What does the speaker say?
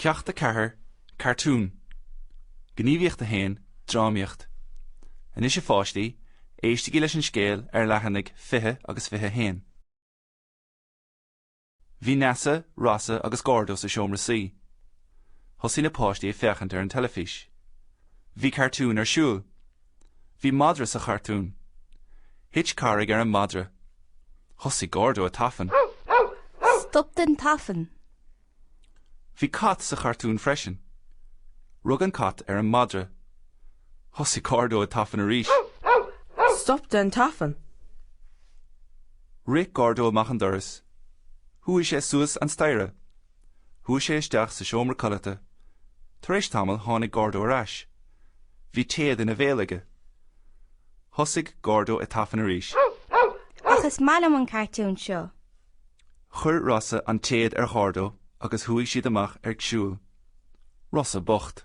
Ceacht 4, Cartún, Gníomhaíocht 1, Drámaíocht, Anois a pháistí, éistigí leis an scéal ar leathanaigh 20 agus 21. Bhí Neasa, Rossa agus Gordo sa seomra suí. Thosaigh na páistí ag féachaint ar an teilifís. Bhí cartún ar siúl. Bhí madra sa chartún. Thit carraig ar an madra. Thosaigh Gordo ag tafann. Stop den tafann. Bhí cat sa chartún freisin. Rug an cat ar an madra. Thosaigh Gordo ag tafann arís. Stop den tafann. Rith Gordo amach an doras. Chuaigh sé suas an staighre. Chuaigh sé isteach sa seomra codlata. Tar éis tamaill tháinig Gordo ar ais. Bhí téad ina bhéal aige. Thosaigh Gordo ag tafann arís. Ach is maith liom an cartún seo. Chuir Rossa an téad ar Ghordo agus chuaigh siad amach ag siúl. Rossa bocht.